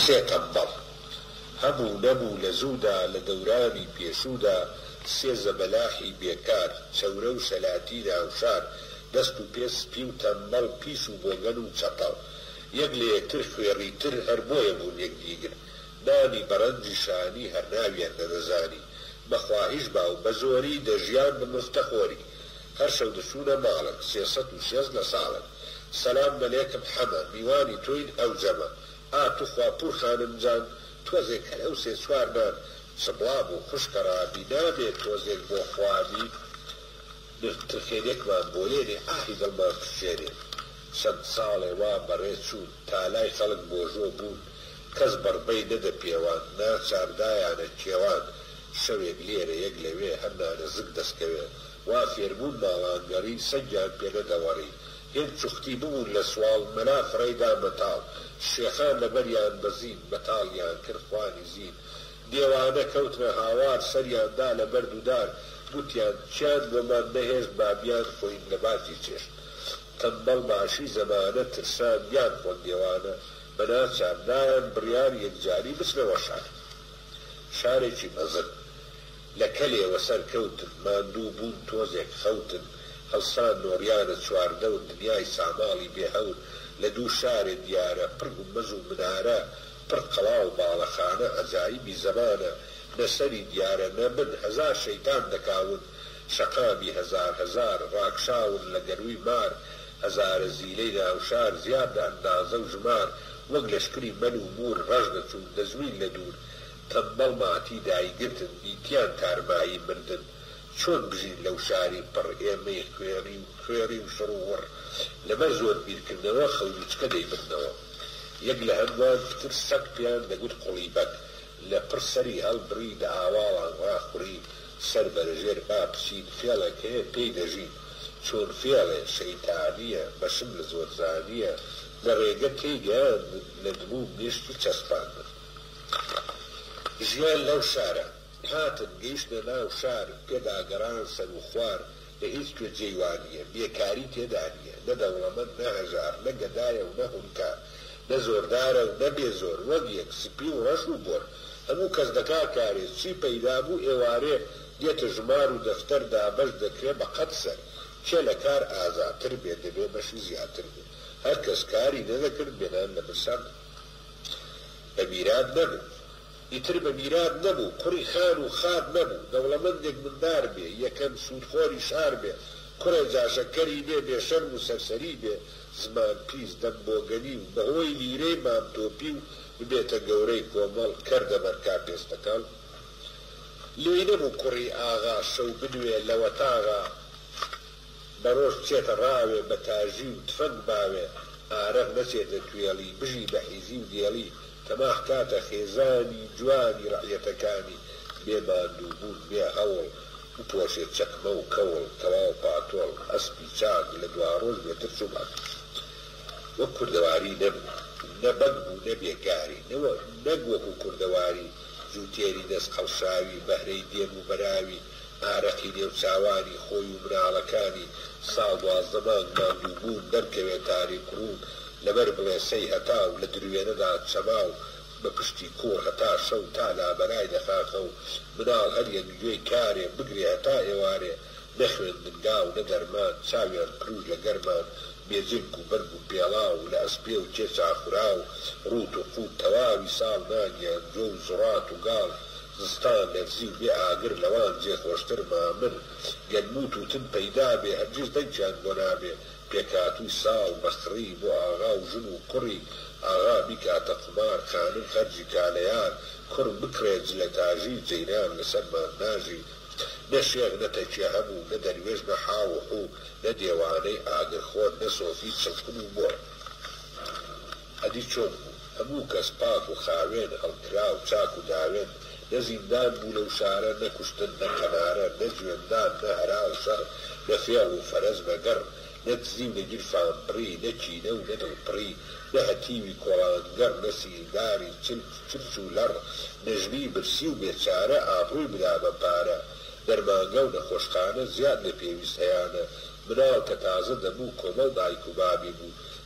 سێ قەمبەڕ هەبوو نەبوو لە زوودا لە دەورانی پێشوودا سێ زەبەلاحی بێکار، چەورە و شەلاتی ناوشار، دەست و پێ سپی و تەمبەڵ، پیس و بۆگەن و چەپەڵ، یەک لە یەکتر خوێڕی تر، هەر بۆیە بوون یەکدیگر نانی، بە ڕەنجی شانی هەر ناویان نەدەزانی، بە خواهیش با و بە زۆری دەژیان بە مفتەخۆری. هەر شەو دەچوونە ماڵت سێ سەد و شێست لە ساڵت سەلام مەلێکم حەمە میوانی تۆین ئەو جەمە ئا توخوا پوور خانم جان تۆزێک هەر ئەو سێ چوار نان چبڵا بوو خوشکە ڕابی نابێ تۆزێک بۆ خوامی نرد ترخێنێکمان بۆ لێنێ ئاهی دڵمان پشچێنێ چەند ساڵێ وا بەڕێ چوون تا لای خەڵک بۆژۆ بوون کەس بەڕبەی نەدە پێوان ناچار دایانە کێوان شەوێک لێرە یەک لەوێ هەر نانەزک دەسکەوێ وا فێربوون ماڵان گەڕین سەگیان پێ نەدەوەڕی هێند چوختی ببوون لە سواڵ مەلا فڕێی دا مەتاڵ شێخان لەبەریان بەزین مەتاڵیان کرد خوانی زین دێوانە کەوتنە هاوار سەریان دا لە بەرد و دار گوتیان چیان بۆمان نەهێشت با بیان خۆین لە باتی چێشت تەمبەڵ باشی زەمانە ترسان بیان خۆن دێوانە بە ناچار دایان بڕیار یەکجاری بچنە وەشار. شارێکی مەزن لە کەلێ وەسەر کەوتن ماندوو بوون تۆزێک خەوتن هەڵسان نۆریانە چواردەور دنیای ساماڵی بێ هەور لە دوو شارێ دیارە پڕ گومبەز و منارە پڕ قەڵا و باڵەخانە عەجایبی زەمانە نە سەری دیارە نە بن هەزار شەیتان دەکاون شەقامی هەزار هەزار ڕاکشاون لە گەرووی مار هەزارە زیلەی ناو شار زیاد لە ئەندازە و ژمار وەک لەشکری مەل و موور ڕەش دەچوون دەزووین لە دوور تەمبەڵ ماتی دایگرتن دیتیان تارمایی مردن چۆن بژین لەو شاری پڕ ئێمەی خوێڕی و کوێڕی و شڕ و وڕ لەبەر زۆر بیرکردنەوە خەونووچکە دەیبردنەوە یەک لە هەمووان پتر سەگ پێیان دەگوت قوڵیبەگ لە پڕ سەری هەڵبڕی دە هاواڵان ڕاخوڕی سەر بەرە ژێر با بچین فێڵێک هەیە پێی دەژین چوون فێڵێ شەیتانیە بەشم لە زۆر زانیە لە ڕێگە تێی گەیاندن لە دمووم نیشت و چەسپاندن ژیان لەو شارە هاتن گەیشتنە ناو شار پێدا گەڕان سەروو خوار لە هیچ کوێ جێی وا نییە، بێکاری تێدا نییە، نە دەوڵەمەند، نە هەژار، نە گەدایە و نە هونکا، نە زۆردارە و نە بێ زۆر، وەک یەک، سپی و ڕەش و بۆر، هەموو کەس دەکا کارێ، چی پەیدا بوو ئێوارێ دێتە ژمار و دەفتەر دابەش دەکرێ بە قەد سەر، کێ لە کار ئازاتر بێ دەبێ بەشی زیاتر بێ، هەر کەس کاری نەدەکرد بێ نان لە برسان نەبوو. بە میرات نەبوو. ئیتر بە میرات نەبوو، کوڕی خان و خات نەبوو، دەوڵەمەندێک مندار بێ، یەکەم سوودخۆری شار بێ، کوڕێ جاشەکەری بێ، بێ شەرم و سەرسەری بێ، زمان پیس، دەم بۆگەنی و بە هۆی لیرەی مام تۆپی و ببێتە گەورەی کۆمەڵ، کەر دەبەر کا پێستەکەڵ. لێی نەبوو کوڕی ئاغا شەو بنوێ لە وەتاغا. بەرۆژ بچێتە ڕاوێ بە تاژی و تفەنگ باوێ ئارەق نەچێتە توێڵی بژی بە حیزی و دێڵی تەماح کاتە خێزانی جوانی ڕەعیەتەکانی بێ ماندوو بوون بێ هەوڵ بپۆشێ چەکمە و کەوڵ تەواو پاتۆڵ ئەسپی چاک لە دواڕۆژ بێ ترس و بەڵ وەک کوردەواری نەبوو نە بەگ بوو نە بێگاری نەک وەکو کوردەواری جووتێری دەست قەڵشاوی بەهرەی دێن و بەراوی ئارەقی نێو چاوانی خۆی و مناڵەکانی ساڵ دوازدە مانگ ماندوو بوون دەرکەوێ تاریک ڕوون لەبەر بڵێسەی هەتاو لە دروێنەدا چەماو بە پشتی کوڕ هەتا شەو تا لابەرای لە خاخە و مناڵ هەر یەک گوێی کارێ بگرێ هەتا ئێوارێ نە خوێندنگا و نە دەرمان چاویان کروژ لە گەرمان بێ جرک و بەرگ و پێڵاو و لە ئەسپێ و کێچا خوراو ڕووت و قووت تەواوی ساڵ ناگیان جۆ و زوڕات و گاڵ زستان لەرزی و بێ ئاگر لەوان جێ خۆشتر مامن گەن موو تووتن پەیدا بێ هەرگیز دەنکیان بۆ نابێ پێکهاتووی ساڵ بە خڕی بۆ ئاغا و ژن و کوڕی ئاغا بیکاتە قومار خانم خەرجی کا لە یار کوڕ بکڕێ جلە تاژی جەیران لە سەرمان ناژی نە شێخ نە تەکیە هەبوو نە دەروێش نە حاو و حوو نە دێوانەی ئاگرخۆر نە سۆفی چڵکن و مۆر. ئەدی چۆن بوو هەموو کەس پاک و خاوێن، هەڵکراو، چاک و داوێن، نە زیندان بوو لەو شارە، نە کوشتن، نە قەنارە، نە جوێندان، نە هەرا و شەڕ، نە فێڵ و فەرەج بە گەڕ، نە دزی و نە گیرفانبڕی، نە کینە و نە دڵپڕی، نە هەتیوی کۆڵانگەڕ، نە سیلداری چلک و چرچ و لەڕ، نە ژنی برسی و بێچارە ئابڕووی بدا بە پارە، دەرمانگا و نەخۆشخانە زیاد لە پێویست هەیانە، مناڵ کە تازە دەبوو کۆمەڵ دایک و بابی بوو،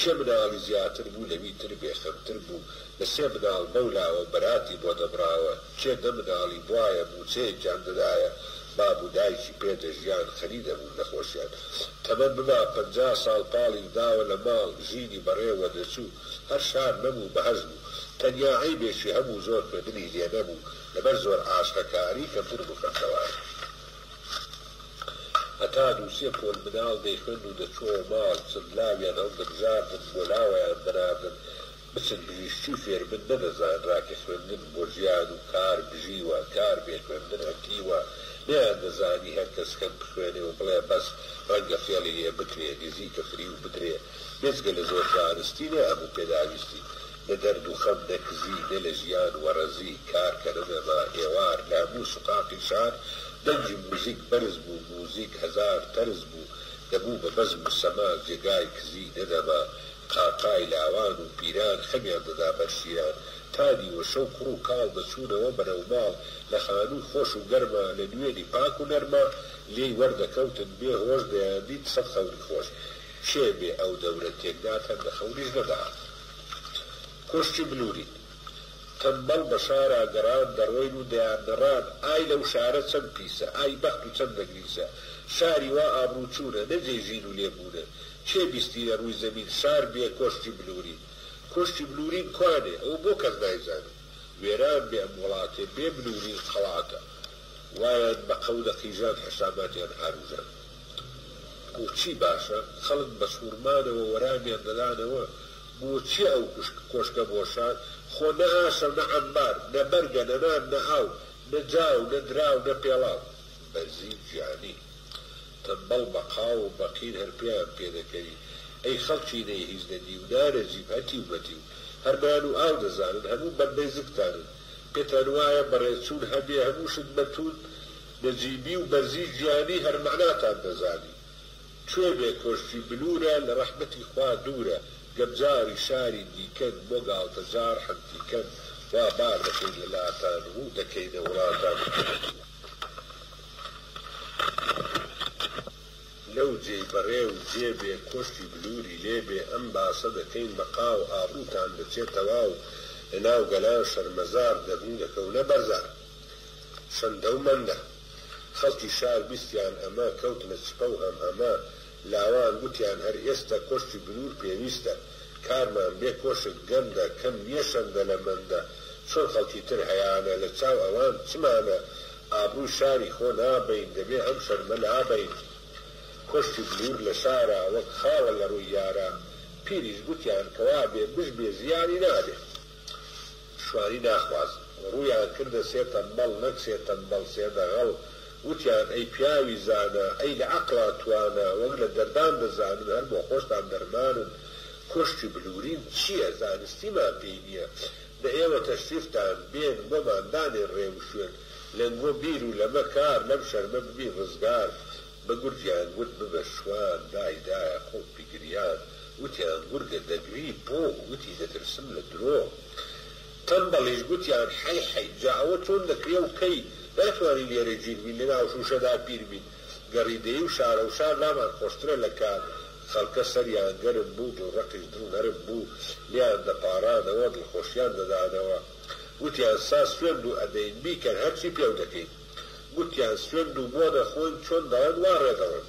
سێ مناڵ ی زیاتر بوو لەوی تر بێ خەمتر بوو لە سێ مناڵ بەو لاوە بەراتی بۆ دەبڕاوە کێ دە مناڵی بوایە موچەیەکیان دەدایە باب و دایکی پێ دەژیان خەری دەبوون لە خۆشیان تەمەن ببا پەنجا ساڵ پاڵی داوە لە ماڵ ژینی بەڕێ وە دەچوو هەر شار نەبوو بەهەشت بوو تەنیا عەیبێکی هەبوو زۆر خوێندنی لێ نەبوو لەبەر زۆر عاشقە کاری کەمتر بوو خەمسەواری هەتا دوو سێ پۆل مناڵ دەیخوێند و دەچووەوە ماڵ، چەند لاویان هەڵدەبژاردن، بۆ لاوەیان دەناردن، بچن پزیشکی فێر بن، نەدەزانرا کە خوێندن بۆ ژیان و کار بژیوە، کار بێ خوێندن ئەتیوە، نەیاندەزانی هەر کەس کەم بخوێنێ و بڵێ بەس، ڕەنگە فێڵی لێ بکرێ، نزیکە فریو بدرێ. بێجگە لە زۆر زانستی نە ئەبوو پێداویستی نە دەرد و خەم نە کزی نە لە ژیان وەڕەزی کار کە نە نەما ئێوار لە هەموو سوقاقی شار دەنگی موزیک بەرز بوو موزیک هەزار تەرز بوو دەبوو بە بەزم و سەما جێگای کزی نە دەما قاقای لاوان و پیران خەمیان دەدا بەر شیران تا نیوە شەو کوڕ و کاڵ دەچوونەوە بەرەو ماڵ لە خانووی خۆش و گەرما لە نوێنی پاک و نەرما لێی وەردەکەوتن بێ هۆش دەیاندیت سەد خەونی خۆش کێ بێ ئەو دەورە تێکدا تەن دە خەونیش نەدەهات کۆشکی بلوری تەمبەڵ بە شارا گەڕان دەڕۆین و دەیان نەڕان ئای لەو شارە چەند پیسە ئای بەخت و چەند نەگریسە شاری وا ئابڕوو چوونە نە جێی ژین و لێ بوونە کێ بیستیە ڕووی زەمین شار بێ کۆشکی بلوری کۆشکی بلورین کوانێ ئەوە بۆ کەس نایزانێ وێران بێ ئەم وڵاتێ بێ بلورین خەڵاتە وایان بە قەو دەقیژان حساباتیان هاروژان. بۆچی باشە خەڵک بە سوڕمانەوە وەرامیان دەدانەوە؟ بۆ چیە ئەو کۆشکە بۆ شار؟ خۆ نە ئاشە و نە عەمبار، نە بەرگە، نە نان، نە ئاو، نە جاو، نە دراو، نە پێڵاو. بەرزی گیانی. تەمبەڵ بە قاو و بە قیر هەر پێیان پێ دەکەوی. ئەی خەڵکی نەی هیچ نە دیو، نانەجیب، هەتیو مەتیو. هەر نان و ئاو دەزانن، هەموو بەندەی زگتانن. پێتان وایە بەڕێچوون هەبێ، هەموو شت بە تووند بە جیدی و بەرزی گیانی هەر مەعناتان دەزانی کوێ بێ کۆشکی بلورە لە ڕەحمەتی خوا دورە گەر جاری شاری دیکەن بۆ گاڵتە جار حەمدیکەن وا بار دەکەین لە لاتان ڕو دەکەینە وڵاتان لەو جێی بەڕێ و جێ بێ کۆشکی بلوری لێ بێ ئەم باسە دەکەین بەقا و ئابڕوتان دەچێ تەواو لە ناو گەلان شەرمەزار دەبن دەکەونە بەرزان. چەندە و مەندە خەڵکی شار بیستیان ئەمە کەوتنە چپە و هەم هەمە لاوان گوتیان هەر ئێستە کۆشکی بنور پێویستە کارمان بێ کۆشک گەندە کەم نیە شەندە لە مەندە چۆن خەڵکی تر هەیانە لە چاو ئەوان چمانە ئابروی شاری خۆ نابەین دەبێ ئەم شەرمە لابەین کۆشکی بنور لە شارا وەک خاوە لە ڕوی یارا پیریش گوتیان کەوابێ بژ بێ زیانی نابێ. شوانی ناخواست ڕوویان کردە سێ تەمبەڵ نەک سێ تەمبەڵ سێ دەغەڵ وتیان ئەی پیاوی زانا ئەی لە عەقڵا توانا وەک لە دەردان دەزانن هەر بۆ خۆشتان دەرمانن کۆشکی بلورین چییە زانستیمان پێی نییە دە ئێوە تەشریفتان بێن بۆمان دانێن ڕێ وشوێن لەنگۆ بیر و لەمە کار لەم شەرمە ببین ڕزگار بە گورگیان گورگ ببە شوان دای دایە خۆت بگریان گوتیان گورگە دەگری بۆ گوتی دەترسم لە درۆ تەمبەڵیش گوتیان حەی حەی جا ئەوە چۆن دەکرێ و کەی ناتوانی لێرە گیر بین لە ناو شوشەدا پیر بین گەڕی دەی و شارە و شار لامان خۆشترە لە کار خەڵکە سەریان گەرم بوو دڵ ڕەقیش دڵ نەرم بوو لێیان دەپاڕانەوە دڵخۆشیان دەدانەوە گوتیان سا سوێند و ئەدەین بیکەن هەرچی پێو دەکەین. گوتیان سوێند و مۆ نەخۆن چۆن دەڵێن وا ڕێ دەڵێن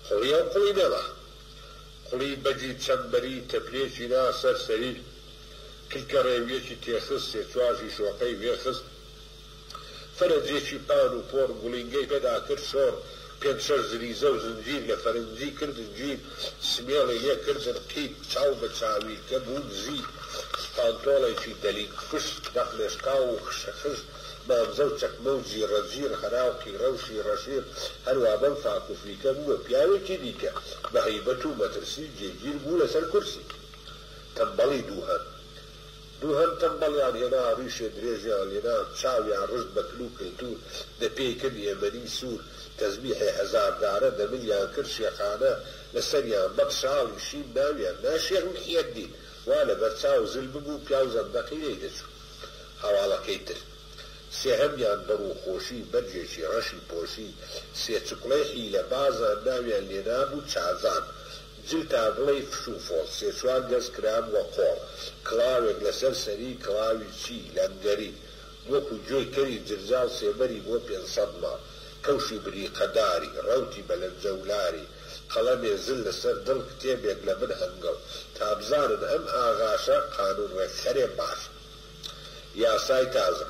قوڵیە و قوڵی نەما قوڵی بەگی چەمبەری تەپلێکی نا سەر سەری کلکە ڕێویەکی تێخست سێ چوار ژیشۆقەی وێ خست فەرەجێکی پان و پۆڕ گوڵینگەی پێدا کرد شۆڕ پێنج شەش زریزە و زنجیر لە فەرنجی کردن جویر، سمێڵی لێ کردن قیپ، چاو بە چاویلکە بوون زیپ، پانتۆڵێکی دەلیک فش، دەق لێشکاو و خشە خش، مانزە و چەکمە و جیڕە جیڕ، هەرا و قیڕە و شیڕە شیڕ، هەروا بەم فاک و فیکە بوو بە پیاوێکی دیکە، بە هەیبەت و مەترسی جێگیر بوو لەسەر کورسی. تەمبەڵی دووهەم. دووهەم تەمبەڵیان هێنا ڕیشێ درێژیان لێنا چاویان ڕشت بە کل و کلتور دە پێی کرد ئێمەنی سور تەزبیحێ هەزار دارە دە ملیان کرد شێخانە لە سەریان بەگ شاڵی شین ناویان نا شێخ محی الدین وا لە بەر چاو زل ببوو پیاو زەندەقی لێی دەچوو هەواڵەکەی تر سێهەمیان بە ڕووخۆشی بەرگێکی ڕەشی پۆشی سێ چکڵەی حیلە بازان ناویان لێنابوو چازان جل تا بڵێی فش و فۆڵ. سێ چوار گەز کرابووە قۆڵ. کڵاوێک لەسەر سەری، کڵاوی چی؟ لەنگەری. وەکوو گوێی کەری جرجاڵ سێبەری بۆ پێنج سەد ماڵ. کەوشی بریقە داری، ڕەوتی بەلەنجە و لاری. قەڵەمێ زل لەسەر دڵ، کتێبێک لە بن هەنگڵ. تا بزانن ئەم ئاغاشە، قانوون ڕێکخەرێ باشە. یاسای تازە.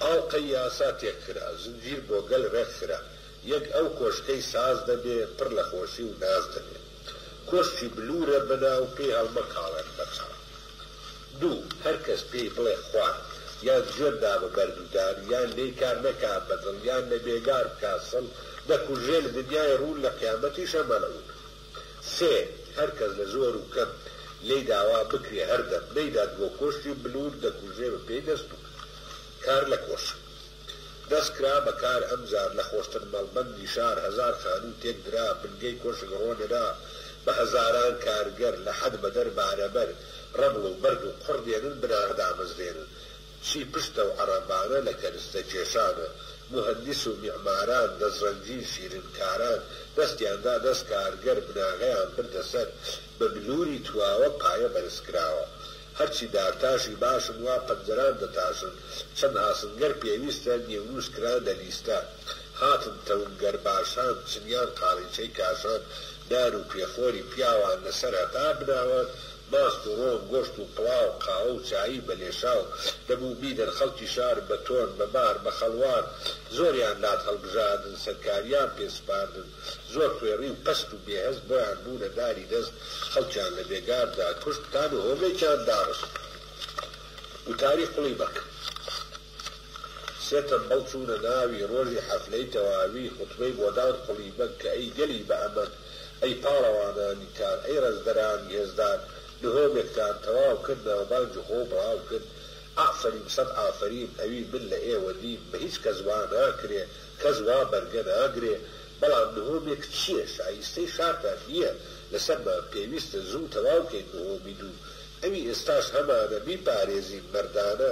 ئاڵقەی یاسا تێک خرا. زنجیر بۆ گەل ڕێک خرا. یەک ئەو کۆشکەی ساز دەبێ پڕ لە خۆشی و ناز دەبێ کۆشکی بلوورە بەناو پێی هەڵمەکاڵێن بە چاو دوو هەر کەس پێی بڵێ خوار یان جوێن دا بە بەرد و دار یان لێی کار نەکا بە دڵ یان لە بێگار بکا سڵ دەکوژرێ لە دنیای ڕوون لە قیامەتیشە مەلعوون سێ هەر کەس لە زۆر و کەم لێی داوا بکرێ هەردەم نەیدات بۆ کۆشکی بلوور دەکوژرێ بە پێی دەست و کار لە کۆشک. دەست کرا بە کار ئەم جار لە خۆشتر مەڵبەندی شار هەزار خانوو تێک درا بنگەی کۆشک ڕۆنرا بە هەزاران کارگەر لە حەد بەدەر بارەبەر ڕەمڵ و بەرد و قوڕ دێنن بناغە دامەزرێنن چی پشتە و عەڕەبانە لە کەرستە کێشانە موهەندیس و میعماران دەست ڕەنجین شیرن کاران دەستیان دا دەست کارگەر بناغەیان بردە سەر بە بلووری تواوە پایە بەرز کراوە هەرچی دارتاشی باشن وا پەنجەران دەتاشن چەند ئاسنگەر پێویستە نیوروز کران لە لیستە هاتن تەونگەر باشان چنیان قالیچەی کاشان نان و پێخۆری پیاوان لە سەر هەتا بناوە ماست و ڕۆن گۆشت و پڵاو قاوە و چایی بە لێشاو دەبوو بیدەن خەڵکی شار بە تۆن بە بار بە خەڵوار زۆریان لات هەڵبژاردن سەرکاریان پێ سپاردن زۆر خوێڕی و پەست و بێهەست بۆیان بوونە داری دەست خەڵکیان لە بێگاردا کوشت تان و هۆمێکیان داڕشت وتاری قوڵی بەک سێ تەمبەڵ چوونە ناوی ڕۆژی حەفلەی تەواوی خوتبەی بۆدان قوڵی بەگ کە ئەی گەلی بە ئەمەگ ئەی پاڵەوانانی کار ئەی ڕەزدەرانی هێزدار نهۆمێکتان تەواو کرد ناوبانگی خۆو بڵاو کرد ئافەریم سەد ئافەریم ئەوی من لە ئێوە دیم بە هیچ کەس وا ناکرێ کەس وا بەرگە ناگرێ بەڵام نهۆمێک چیە شایستەی شارتان نیە لەسەرمان پێویستە زوو تەواوکەین نهۆمی دوو ئەوی ئێستاش هەمانە بیپارێزین مەردانە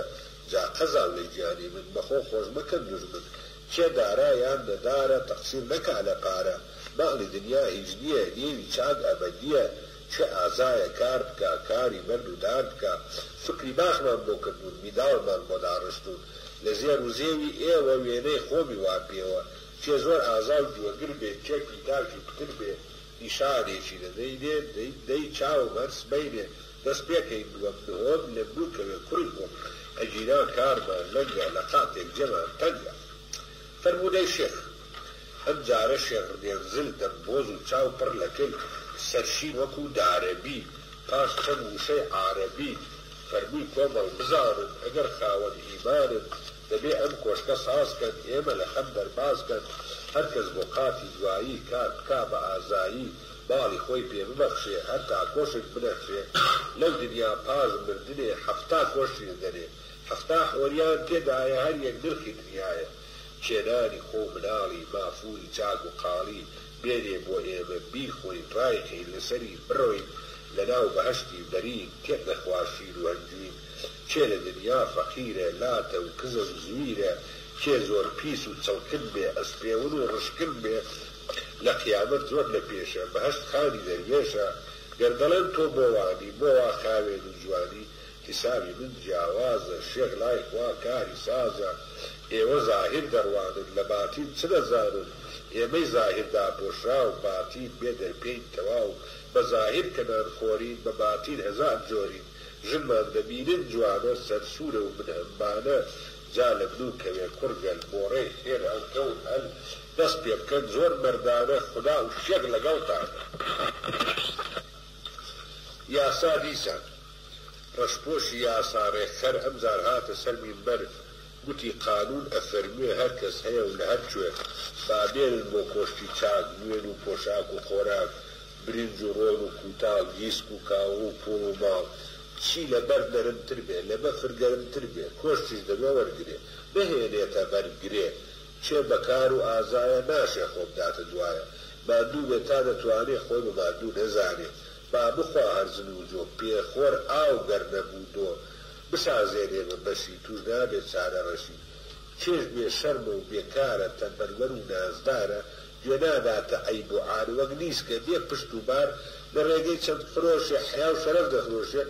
جا قەزاولەی گیانی من بەخۆ خۆش مەکەن دوژمن کێ دارا یان نەدارە تەقسیر نەکا لەپارە ماڵی دنیا هیچ نیە نێوی چاک ئەبەدیە چ ئازایە کار بکا کاری بەرد و دار بکا سوکری باخمان بۆ کردوون میداڵمان بۆ داڕشتوون لە زێر و زێوی ئێوە وێنەی خۆمی وا پێوە چێ زۆر ئازا و گوێگر بێ چەکی تاکی پتر بێ نیشانێکی لە دەینێ دەی چاوم هەر سبەینێ دەست پێکەین دووەم نهۆم لێم بووکەوێ کوڕی خۆم ئەگینا کارمان لەنگە لە قاتێک جێمان تەنگە فەرموو دەی شێخ ئەم جارە شێخ ردێن زل دەم بۆز و چاو پڕ لە کل، سەرشین وەکوو دارەبی، پاش چەند وشەی عارەبی، فەرمووی کۆمەڵ بزانن، ئەگەر خاوەن ئیمانن، دەبێ ئەم کۆشکە ساز کەن، ئێمە لە خەم دەرباز کەن، هەر کەس بۆ قاتی دوایی، کار بکا بە ئازایی، ماڵی خۆی پێ ببەخشێ، هەرتا کۆشک بنەخشێ، لەو دنیا پاش مردنێ، حەفتا کۆشک دەنێ، حەفتا حۆریان تێدایە، هەر یەک نرخی دنیایە. کێنانی خۆو مناڵی مافوری چاک و قاڵی بێنێ بۆ ئێمە بیخۆین ڕایکەین لەسەری بڕۆین لەناو بەهەشتی بەرین تێک نەخوا شیر و هەنجوین کێ لە دنیا فەقیرە لاتە و کزە و زویرە کێ زۆر پیس و چڵکن بێ ئەسپێون و ڕشکن بێ لە قیامەت زۆر لە پێشە بەهەشت خانی دەروێشە گەر دەڵێن تۆ بۆ وانی بۆ وا خاوێن و جوانی حیسابی من جیاوازە شێخ لای خوا کاری سازە ئێوە زاهیر دەڕوانن لە باتین چ دەزانن ئێمەی زاهیر داپۆشراو باتین بێ دەرپێین تەواو بە زاهیر کە نان خۆرین بە باتین هەزار جۆرین ژنمان دەبینن جوانە سەر سورە و من هەمبانە جا لە منو کەوێ کوڕ گەل بۆڕێ خێر هەڵکەون هەل دەست پێ بکەن زۆر مەردانە خودا و شێخ لەگەڵتانە یاسا دیسان. ڕەشپۆشی یاسا ڕێکخەر ئەمجار هاتە سەر مینبەر گوتی قانون ئەفەرموێ هەر کەس هەیە و لە هەر کوێ با بێنن بۆ کۆشکی چاک نوێن و پۆشاک و خۆراک برینج و ڕۆن و کوتاڵ گیسک و کاوە و پوڵ و ماڵ چی لە بەرد نەرم تر بێ لە بەفر گەرم تر بێ کۆشکیش دەبێ وەرگرێ نەهێنێتە بەر گرێ چێ بە کار و ئازایە ناشێ خۆ بداتە دوایە ماندوو بێ تا دەتوانێ خۆی بە ماندوو نەزانێ با بخوا ئەرزنوجۆ پێ خۆر ئاو گەر نەبوو دۆ بسازێنێ بە بەشی توش نابێ چارە ڕەشی کێش بێ شەرمە و بێ کارە تەمبەلوەر و نازدارە گوێ ناداتە عەیب و عار وەک نیسکە بێ پشت و بار لە ڕێگەی چەند خرۆشێ حەیا و شەرەف دەفرۆشێ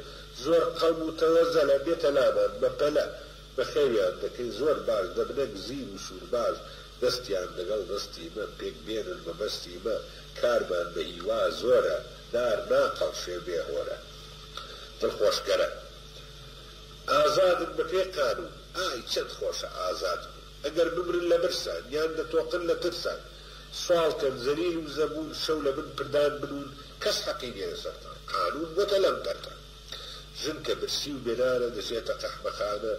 زۆر قەوم و تەوەزەلە بێتە لامان بە پەلە بە خێویان دەکەین زۆر باش دەبنە گزیر و سوورباش دەستیان دەگەڵ دەستی مە پێک بێنن مەبەستی مە کارمان بە ئیوا زۆرە دار ناقەڵشێ بێ هۆرە دڵخۆشگەرە ئازادن بە پێ قانون ئای چەند خۆشە ئازاد بوون ئەگەر بمرن لە برسان یان دەتۆقن لە ترسان سواڵ کەن زەلیل و زەبون شەو لە بن پردان بنوون کەس حەقی نیە لە سەرتان قانون بۆتە لەم پەردە ژن کە برسی و بێ نانە دەچێتە قەحبەخانە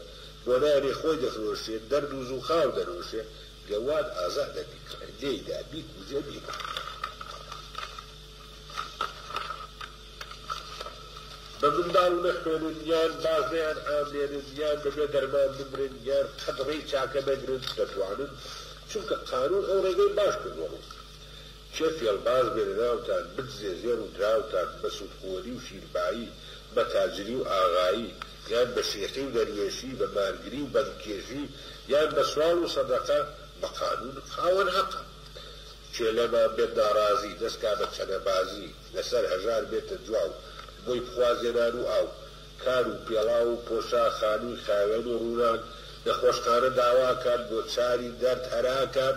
بۆ نانی خۆی دەفرۆشێ دەرد و زووخاو دەنۆشێ گەواد ئازادە بیکڕێ لێیدا بیکوژێ بیکڕێ بە منداڵ نەخوێنن یان باش نەیان ئامێنن یان بەبێ دەرمان بمرن یان قەت ڕێی چاکە نەگرن دەتوانن چونکە قانون ئەو ڕێگەی باش کردوەڕوو کێ فێڵباز بێ لە ناوتان بدزێ زێڕ و دراوتان بە سوودخۆری و شیربایی بە تاجری و ئاغایی یان بە شێخی و دەروێشی بە مارگری و بەنگکێشی یان بە سواڵ و سەدەقە بە قانون خاوەن هەقە کێ لەمان بێت ناڕازی دەست کا بە چەنەبازی لە سەر هەژار بێتە دواو بۆی بخوازێ نان و ئاو کار و پێڵاو و پۆشاک خانووی خاوێن و ڕووناک نەخۆشخانە داواکات بۆ چاری دەرد هەراکات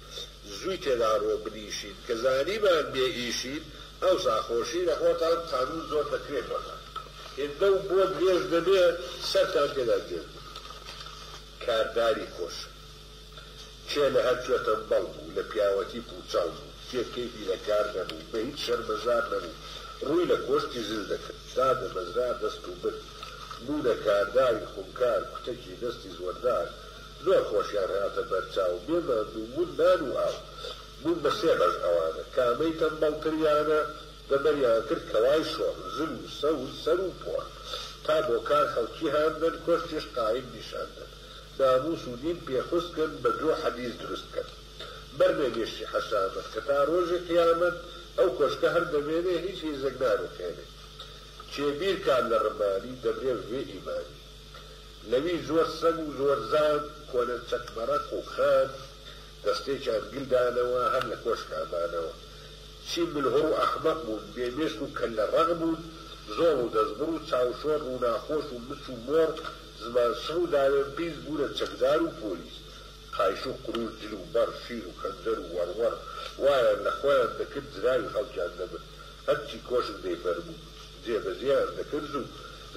زوی تێدا ڕۆ بنیشین کە زانیمان بێ ئیشین ئەوسا خۆشی لە خۆتان قانون زۆر دەکرێ بۆتان هێندە و بۆ درێژ دەبێ سەرتان تێدا گێژ دەبێ کارداری خۆشە کێ لە هەر کوێ تەمبەڵ بوو لە پیاوەتی پوچەڵ بوو کێ کەیفی لە کار نەبوو بە هیچ شەرمەزار نەبوو ڕوی لە کۆشکی زل دەکرد دادەمەزرا دەست و بن بوونە کارداری خونکار کوتەکی دەستی زوەردار زۆر خۆشیان هاتە بەرچاو بێ ماندوو بوون نان و ئاو بوون بە سێ بەش ئەوانە کامەی تەمبەڵ تریانە دەبەریان کرد کەوای شۆڕ زل و سەوز سەر و پۆڕ تا بۆ کار خەڵکی هان دەن کۆشکیش قایم نیشان دەن ناموس و دین پێ خوست کەن بە درۆ حەدیس دروست کەن بەر نەگەشتی حەشامەت کە تا ڕۆژی قیامەت ئەو کۆشکە هەر دەمێنێ هیچ هیزێک ناروخێنێ کێ بیر کات لە ڕمانی دەمرێ ڤێ ئیمانی. لەوی زۆر سەگ و زۆر زان کۆنە چەک مەرەق و خان دەستێکیان گل دانەوە هەر لە کۆشکا مانەوە چی مل هوڕ و ئەحمەق بوون بێ مێشک و کەللە ڕەق بوون زۆڵ و دەستبڕ و چاوشۆر ڕووناخۆش و مچ و مۆڕ زمان شڕ و داوێن قیز بوونە چەکدار و پۆلیس خایش و قروش جل و بەڕ شیر و خەنجەر و وەڕوەڕ وایان لە خۆیان دەکرد جراوی خەڵکیان دەبرد هەرچی کۆشک دەیفەرموو جێبەجێیان دەکرد و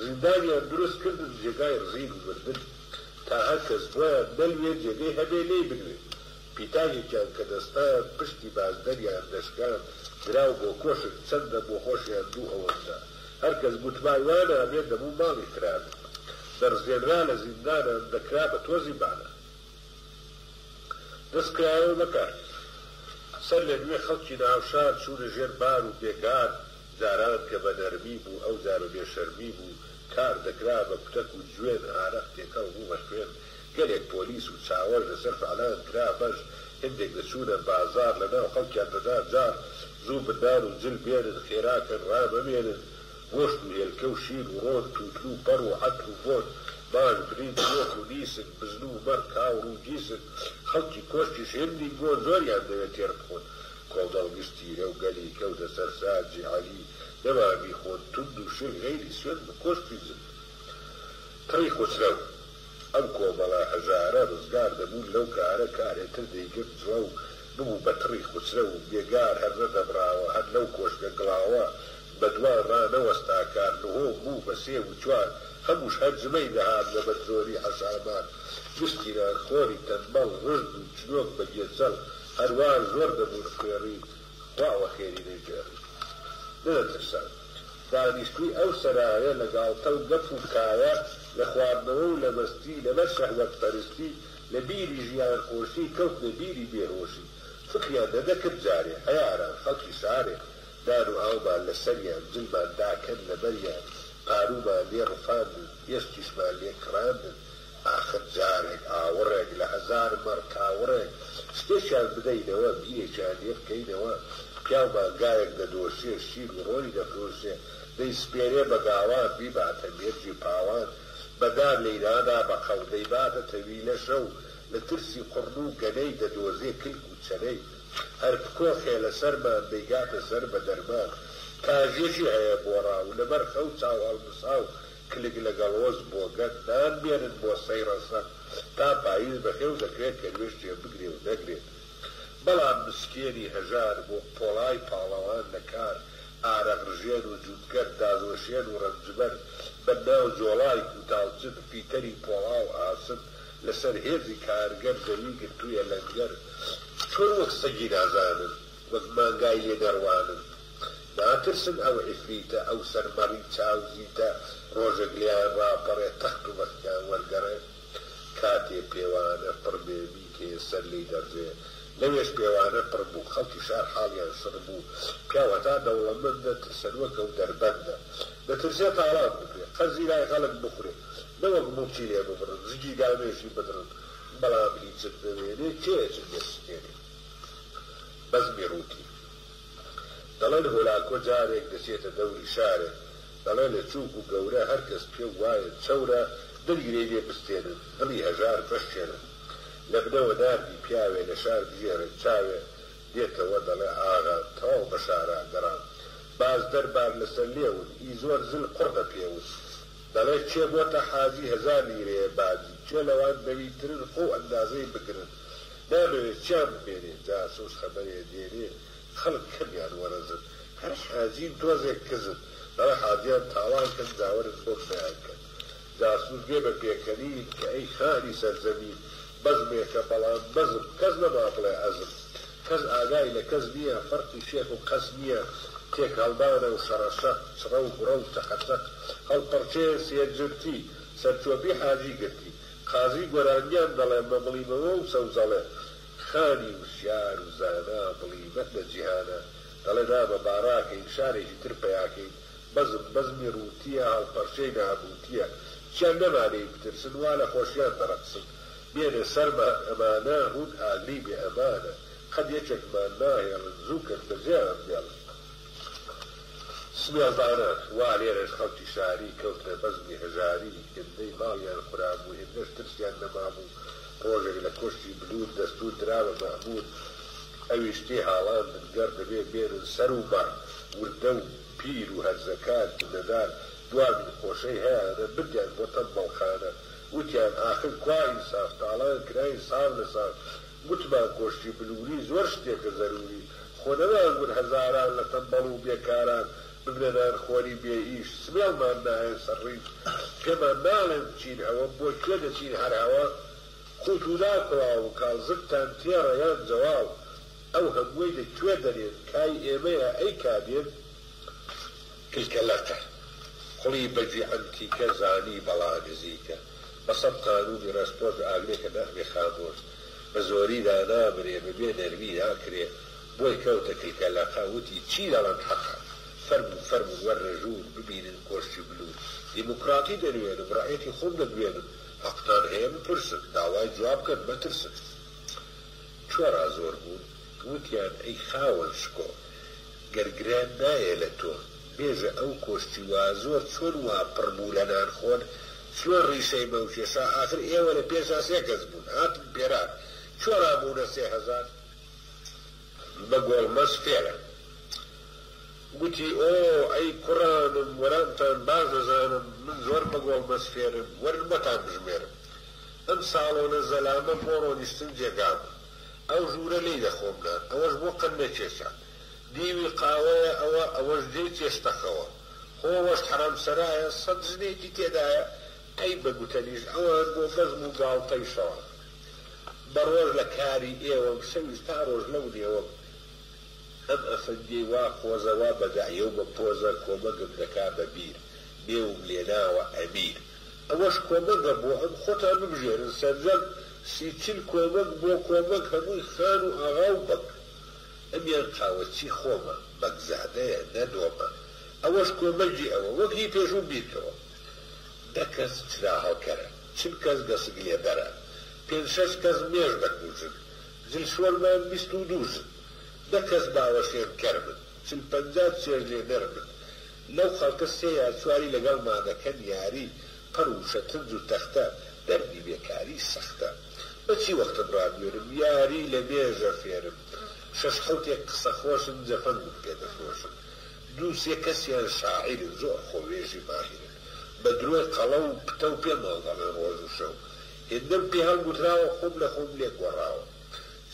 زیندانیان دروست کردن جێگای ڕزین و مردن تا هەر کەس بۆیان نەلوێ جێگەی هەبێ لێی بلوێ پیتاکێکیان کە دەستان پشتی بازدەریان دەشکاند دراو بۆ کۆشک چەندە بۆ خۆشیان دوو ئەوەندە هەر کەس گوتبا وا نابێ دەبوو ماڵی خرابێ دەڕزێنرا لە زیندانان دەکرا بە تۆزی بانە دەست کرایەوە بەکار سەر لە نوێ خەڵکی ناوشار چوونە ژێر بار و بێگار جاران کە بە نەرمی بوو ئەو جارە بێ شەرمی بوو کار دەکرا بە کوتەک و جوێن ئارەق تێکەڵ بوو بە خوێن گەلێک پۆلیس و چاوەش لەسەر فعلان کرا بەش هندێک دەچوونە بازار لە ناو خەڵکیان دەدا جاڕ زوو بنان و جل بێنن خێرا کەن ڕا مەمێنن گۆشت و هێلکە و شیر و ڕۆن تووتن و پەڕ و عەتر و بۆن ماش برنج گۆک و نیسک بزن و مەڕ کاوڕ و گیسک خەڵکی کۆشکیش هندی گۆ زۆریان دەوێ تێر بخۆن کۆمەڵ گشتی لەو گەلی کەوتە سەر ساجی عەلی نەما بیخۆن توند و شل غەیری سوێند بە کۆشکی زل پڕی خوسرەو ئەم کۆمەڵە هەژارە ڕزگار دەبوون لەو کارە کارێ تر دەیگرت جڵەو ببوو بە تڕی خوسرەو بێگار هەر نەدەبڕاوە هەر لەو کۆشکە گڵاوە بە دوان ڕانەوەستا کار نهۆم بوو بە سێ و چوار هەمووش هەر جمەی دەهات لە بەر زۆری حەشامات گشتی نان خۆری تەنبەڵ ڕژد و چنۆک بە گێچەڵ هەروا زۆر دەبوون خوێڕی خوا وەخێری دەیگێڕی دەدەترسان دانیشتووی ئەو سەرایە لە گاڵتە و گەپ و کایە لە خواردنەوە و لە مەستی لەبەر شەهوەت پەرستی لە بیری ژیان خۆشی کەوتنە بیری بێ هۆشی فکریان نەدەکرد جارێ عەیاران خەڵکی شارێ نان و ئاومان لە سەریان جلمان داکەن لە بەریان پاروومان لێ ڕفاندن ئێسکیشمان لێ کڕاندن ئاخر جارێک ئاوڕێک لە هەزار مەڕ کاوڕێک شتێکیان بدەینەوە، بیرێکیان لێ بکەینەوە، پیاو مانگایەک دەدۆشێ، شیر و ڕۆنی دەفرۆشێ، دەیسپێرێ بە گاوان، بیباتە مێرگی پاوان، بە دار لێی نادا بە قەڵ، دەیباتە تەویلە شەو، لە ترسی قڕن و گەنەی، دەدۆزێ کلک و چەنەی، هەر بکۆخێ لە سەرمان، دەیگاتە سەر بە دەرمان، کاژێکی هەیە بۆڕاو، لەبەر خەو چاو هەڵمساو، کلک لەگەڵ وەز بۆگەن نان بێنن بۆ سەی ڕەسەن تا پایز بەخێو دەکرێت کە نوێژ جێ بگرێ و نەگرێت بەڵام مسکێنی هەژار بۆ پۆڵای پاڵەوان لە کار ئارەق ڕژێن و جووتکەر دازوەشێن و ڕەنجبەر بە ناو جۆڵای کووتاوچن فیتەری پۆڵا و ئاسن لە سەر هێزی کارگەر زەوی گرتوویە لەنگەر چۆن وەک سەگی نازانن وەک مانگای لێ دەڕوانن. ناترسن ئەو عیفریتە ئەو سەر مەڕی چاو زیتە ڕۆژێک لێیان ڕاپەڕێ تەخت و بەختیان وەرگەڕێ کاتێ پێوانە پڕ بێ میکێ سەر لێی دەڕژێ لەوێش پێوانە پڕ بوو خەڵکی شار حاڵیان شڕ بوو پیاو هەتا دەوڵەمەندە ترسەنوەک ئەو دەربەندە دەترسێ تاڵان بکرێ قەرزی لای خەڵک بخورێ نەوەک موڵکی لێ ببڕن زگی گامێشی بدڕن بەڵام هیچت نەمێنێ کێ ئەچن لێ سکێنێ بەزمی ڕووتی. دەڵێن هۆلاکۆ جارێک دەچێتە دەوری شارێک، دەڵێ لە چووک و گەورە هەر کەس پێ وایە چەورە، دەگیرێی لێ بستێنن، دڵی هەژار بشکێنن. لە بنەوە ناردی پیاوێ لە شار بژێرن، چاوێ دێتەوە دەڵێ ئاغا تەواو بە شارا گەڕام. باز دەربار لە سەر لێون، ئی زۆر زل قڕ بە پێون. دەڵێ کێ بۆتە حاجی هەزار لیرەیە باجی، کێ لەوان بەوی ترن خۆ ئەندازەی بگرن. نامەوێ چیان بمێنێ جاسوس خەبەرێ دێنێ خەڵک کەمیان وەرەزن هەر حاجی و تۆزێک کزن بەڵێ حاجیان تاڵان کەن جاوەرن بۆم بیان کەن جاسوس بێ بە پێکەنین کە ئەی خانی سەرزەمین بەزمێکە بەڵام بەزم کەس نەما بڵێ ئەزم کەس ئاگای لە کەس نیە فەرقی شێخ و قەس نیە تێکهەڵدانە و شەڕەشەق چڕە و بڕە و چەقەچەق هەڵپەڕکێ سێجرتی سەرچۆپی حاجی گرتی قازی، گۆرانیان دەڵێ مە بڵیمەوە و سەوزەڵێ خانی وشیار و زانا بڵیمەت لە جیهانا دەڵێ نامە با ڕاکەین شارێکی تر پەیاکەین بەزم بەزمی ڕووتییە هەڵپەرچەی نابووتییە چیا نەمانێی بترسن وا لە خۆشیان دەڕەقسن بێنە سەرمان ئەمانە هوون ئاگری بێ ئەمانە قەد یەکێکمان ناهێڵن زوو کەن بەجێیان بێڵن. سمێڵدانە وا لێرەش خەڵکی شاری کەوتنە بەزمی هەژاری، هێندەی ماڵیان خورابوو هێندەش ترسیان نەمابوو، ڕۆژێک لە کۆشکی بلوور دەستوور درا بە مەئموور ئەویش تێ هاڵاندن گەڕ دەبێ بێنن سەر و مەڕ، وردە و پیر و هەرزەکار جنەدار دوا دوو قۆشەی هەیانە بردیان بۆ تەمبەڵخانە، وتیان ئاخر کوا ئینساف تاڵان کراین ساڵ لە ساڵ گوتمان کۆشکی بلووری زۆر شتێکە زەرووری، خۆ نەمانگوت هەزاران لە تەمبەڵ و بێکاران ببنە نانخۆری بێ ئیش، سمێڵمان نایەت سەر ڕیز، پێمان ناڵێن بچین ئەوە، بۆ کوێ دەچین هەر ئەوە، قووت و نان کڵاو و کاڵ، زگتان تێڕە یان جەواڵ، ئەو هەمووەی لە کوێ دەنێن، کای ئێمەیە ئەی کا دێن؟ کلکە لەقە، کوڵی بەگی عەنتیکە، زانی بەڵا نزیکە. بە سەد قانونی ڕێسپۆنس بە ئاگرێک کە نەخبێ خامۆش بە زۆری دانابرێ بە بێ نەرمی ناکرێ بۆی کەوتە کلکە لەقە وتی چی دەڵێم حەقە فەرموو فەرموون وەرنە ژوور ببینن کۆشکی بلوو دیموکڕاتی دەنوێنم ڕەعیەتی خۆم دەدوێنم حەقتان هەیە بپرسن داوای جواب بکەن مەترسن چوارا زۆر بوون وتیان ئەی خاوەن شکۆ گەر گران نایە لە تۆ. بێژە ئەو کۆشکی وا زۆر چۆن وا پڕ بوو لە نان خۆر چلۆن ڕیشەی مەو کێشا ئاخر ئێوە لە پێشا سێ کەس بوون هاتن پێرار چۆ ڕا بوونە سێ هەزار بە گۆڵمەز فێرە گوتی ئۆ ئەی کوڕانم وەرامتان باش دەزانم من زۆر بە گۆڵمەز فێرم وەرن بۆتان بژمێرم ئەم ساڵۆنە زەلامە بۆ ڕۆنیشتن جێگا بوو ئەو ژوورە لێی دەخۆم نان ئەوەش بۆ قەننە کێشا دیوی قاوەیە ئەوە ئەوەش دێی تێشتەخەوە خۆ ئەوەش حەرامسەرایە سەد ژنێکی تێدایە ئەی بە گوتەنیش ئەوان بۆ بەزم و گاڵتەی شەڕە بە ڕۆژ لە کاری ئێوەم شەویش تا ڕۆژ لەو نێوەم ئەم ئەفەندیەی وا قۆزە وا بە دەعیە و بە پۆزە کۆمەگم دەکا بە بیر بێوم لێ ناوە ئەمیر ئەوەش کۆمەگە بۆ ئەم خۆتان ببژێرن سەرجەم سی چل کۆمەگ بۆ کۆمەگ هەمووی خان و ئاغا و بەگ ئەمیان قاوە چی خۆمە بەگزادەیە نە نۆمە ئەوەش کۆمەگی ئەوە وەک هی پێشوو بیرکەوە نە کەس چرا هەڵکەرە چل کەس گەسک لێبەرە پێنج شەش کەس مێش بە کوژن جل شۆرمان بیست و دوو ژن نە کەس باوە شێن کەرمن چل پەنجا چێژ لێ نەرمن لەو خەڵکە سێ یا چواری لەگەڵ مانەکەن یاری پەڕ و شەترنج و تەختە دەردی بێکاری سەختە بە چی وەختم ڕابوێرم یاری لە مێژە فێرم شەش حەوتێک قسە خۆشن جەفەنگم پێ دەفرۆشن دوو سێ کەسیان شاعیرن زۆر خۆ وێژی ماهیرن بە درۆی قەڵەو و پتەو پێمان دەڵێن ڕۆژ و شەو هێندەم پێ هەڵگوتراوە خۆم لە خۆم لێک گۆڕاوە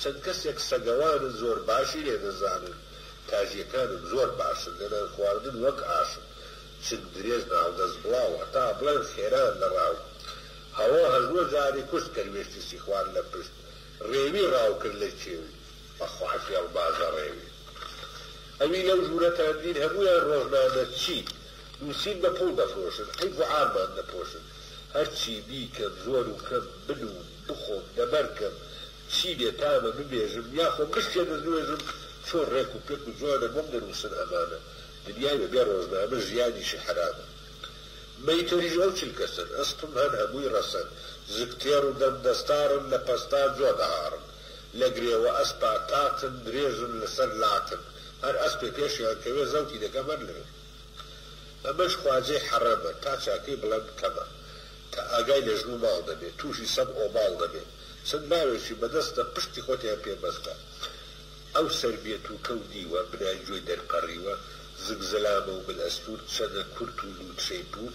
چەند کەسێک سەگەوانن زۆر باشی لێ دەزانن تاژیەکانم زۆر باشن لە نان خواردن وەک ئاشن چنگ درێژ ناڵ دەست بڵاو هەتا بڵێن خێران لە ڕاو هەوە هەژوە جارێ کوشت کەروێشکی سیخوار لە پشت ڕێوی ڕاو کرد لە کێو و بە خوار فێڵ بازە ڕێوی ئەوی لەو ژوورە تاندین هەموویان ڕۆژنامەچی نووسین بە پووڵ دەفرۆشن عەیب و عارمان دەپۆشن هەرچی بیکەم زۆر و کەم بنووم بخۆم دەبەر کەم چی بێ تامە ببێژم یا خۆم بشتێ دەستنوێژم چۆن ڕێک و پێک و جوانە بۆم دەنووسن ئەمانە دنیای بە بێ ڕۆژنامە ژیانیشی حەرامە. مەیتەریش ئەو چل کەسەن ئەسپم هەن هەمووی ڕەسەن زگ تێڕ و دەم دەستاڕن لە پەستا جۆ دەهاڕن لە گرێوە ئەسپا تاتن درێژن لە سەر لاتن هەر ئەسپێ پێشیان کەوێ زەوتی دەکەم هەر لەوێ ئەمەش خواجەی حەڕەمە تا چاکەی بڵێم کەمە تا ئاگای لە ژن و ماڵ دەبێ تووشی سەگ ئۆباڵ دەبێ چەند لاوێکی بە دەستە پشتی خۆتیان پێ بەستە ئەو سەر بێت و کەو دیوە، بنای گوێ دەرپەڕیوە، زگ زەلامە و مل ئەستوور، چەنە کورت و لووتکەی پوور،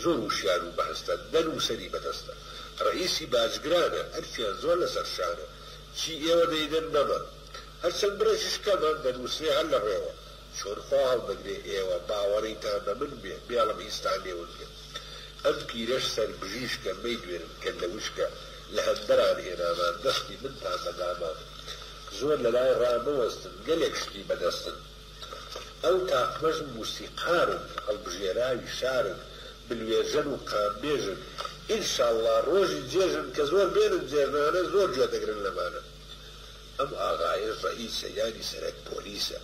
زۆر وشیار و بەهەستە، دە نووسەری بەدەستە. ڕەئیسی باجگرانە، ئەرکیان زۆر لە سەر شانە، چی ئێوە دەیدەن نەما. هەر چەند بڕێکیش کەمە، دەنووسرێ هەر لە ڕێوە. چۆن خوا هەڵدەگرێ ئێوە، باوەڕیتان بە من بێ، بێڵم هیچتان لێ ون بێ. ئەم پیرەش سەر بژیژکە، مەیدوێنن کەللە وشکە، لە هەندەران هێنامان، دەستی منتان بە دامان. زۆر لەلای ڕامەوەستن گەلێک شتی بەدەستن ئەو تاقمەش موسیقارن هەڵبژێراوی شارن بلوێرژەن و قامبێژن ان شاللە ڕۆژی جێژن کە زۆر بێنن جێژنانە زۆر گوێ دەگرن لەمانە ئەم ئاغایەش ڕەئیسە یانی سەرەک پۆلیسە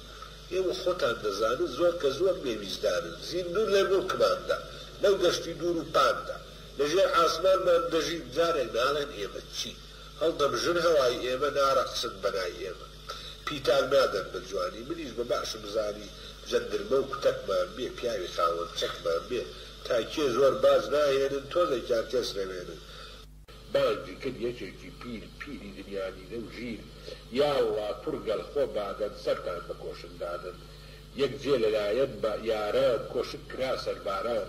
ئێوە خۆتان دەزانن زۆر کە زۆر بێ ویژدانن زیندوون لە موڵکماندا لەو دەشتی دوور و پاندا لە ژێر ئاسمانمان دەژین جارێک ناڵێن ئێمە چین. هەڵدەم ژن هەوای ئێمە نارەقسن بەنای ئێمە پیتان نادەن بە جوانی منیش بە باشم زانی جەندرمە و کوتەکمان بێ پیاوی خاوەن چەکمان بێ تا کێ زۆر باج ناهێنن تۆزێکیان تێسرەوێنن بانگی کرد یەکێکی پیر پیری دنیا دیدە و ژیر یاڵڵا کوڕ گەل خۆ بادەن سەرتان بە کۆشک دادەن یەک جێ لەلایەن بە یاران کۆشک کرا سەرباران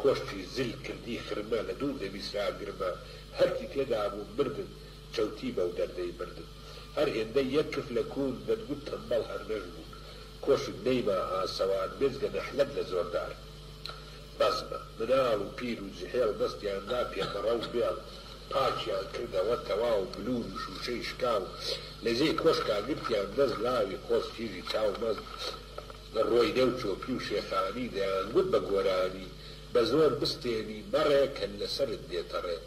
کۆشکی زل کردی خرمە لە دوور دەبیسرا گرمە هەرکی تێدا بوو مردن چەوتی بەو دەردەی مردن هەر هێندەی یەک کف لە کوون دەتگوت تەمبەڵ هەر نەشبوو کۆشک نەیما ئاسەوار بێجگە نەحلەت لە زۆردار بەزمە مناڵ و پیر و جحێڵ دەستیان دا پێ مەڕە و بێڵ پاکیان کردەوە تەواو بلور و شوشەی شکاو لە جێی کۆشکا گرتیان دەست لاوی قۆز کیژی چاو مەست لە ڕۆیدە و چۆپی و شێخانی دەیانگوت بە گۆرانی بە زۆر بستێنی مەڕێ کەر لە سەرت دێتەڕێ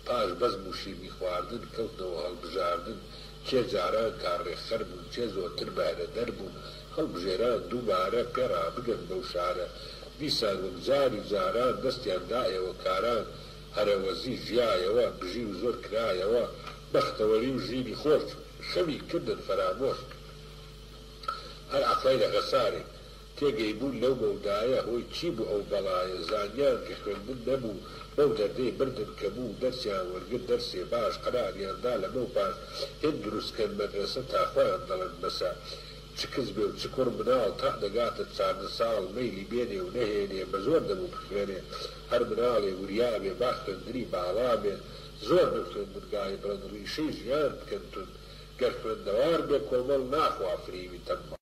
پاش بەزم و شیرنی خواردن کەوتنەوە هەڵبژاردن کێ جاران کارڕێکخەر بوو کێ زۆرتر بەهرەدەر بوو هەڵبژێران دووبارە پێ ڕابگەن بەو شارە دیسان وەک جاری جاران دەستیان دایەوە کاران هەرەوەزی ژیایەوە بژی و زۆر کرایەوە بەختەوەری و ژینی خۆش خەمی کردن فەرامۆش. هەر عەقڵەی لە خەسارێ. تێگەی بوون لەو مەودایە هۆی چی بوو ئەو بەڵایە، زانیان کە خوێندن نەبوو بەو دەردەی بردن کە بوو دەرسیان وەرگرت دەرسێ باش قەراریان دا لەمەو پاش هێند دروست کەن مەدرەسە تا خۆیان دەڵێن بەسە چ کچ بێ و چ کوڕ مناڵ تا دەگاتە چاردە ساڵ مەیلی بێنێ و نەهێنێ بەزۆر دەبوو بخوێنێ هەر مناڵێ وریا بێ با خوێندنی باڵا بێ زۆر بن خوێندن گاڵی بڵێن ڕیشەی ژیان بکەن تون گەر خوێندەوار بێ کۆمەڵ ناخوا فریوی تەنبەڵ.